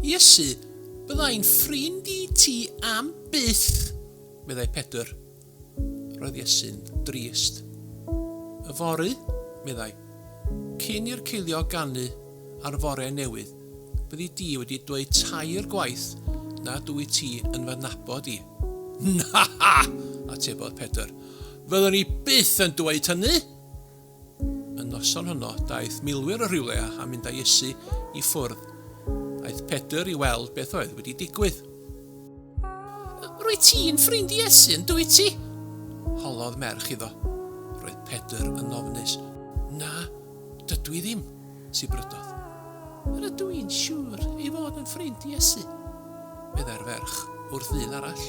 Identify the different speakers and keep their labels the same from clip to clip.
Speaker 1: Iesu, byddai'n ffrind i ti am byth, meddai Pedr. Roedd Iesu'n drist. Yfory, meddai, cyn i'r ceiliog ganu ar fore newydd, Byddi di wedi dweud tair gwaith nad wyt ti yn fy nabod i. Na! atebodd Pedr. Fyddwn i byth yn dweud hynny! Y noson honno, daeth milwyr o rywle a mynd â Iesu i ffwrdd. Aeth Pedr i weld beth oedd wedi digwydd. Rwyt ti'n ffrind Iesu, yn dwyt ti? holodd merch iddo. Roedd Pedr yn ofnus. Na, dydw i ddim. sy'n brydodd. Rydw i'n siŵr ei fod yn ffrind Iesu, meddai'r ferch wrth ddyn arall.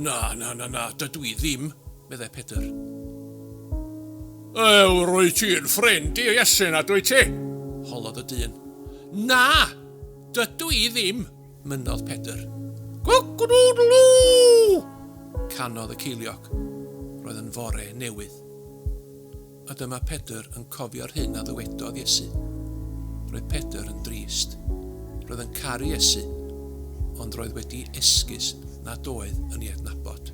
Speaker 1: Na, na, na, na, dydw i ddim, meddai Pedr. Ew, rwy ti'n ffrind i Iesu na dwy ti? holodd y dyn. Na, dydw i ddim, mynnodd Pedr. Cock-a-doodle-doo! canodd y ceiliog. Roedd yn fore newydd. A dyma Pedr yn cofio'r hyn a ddywedodd Iesu. Roedd Pedr yn drist. Roedd yn caru Iesu, ond roedd wedi esgus nad oedd yn ei adnabod.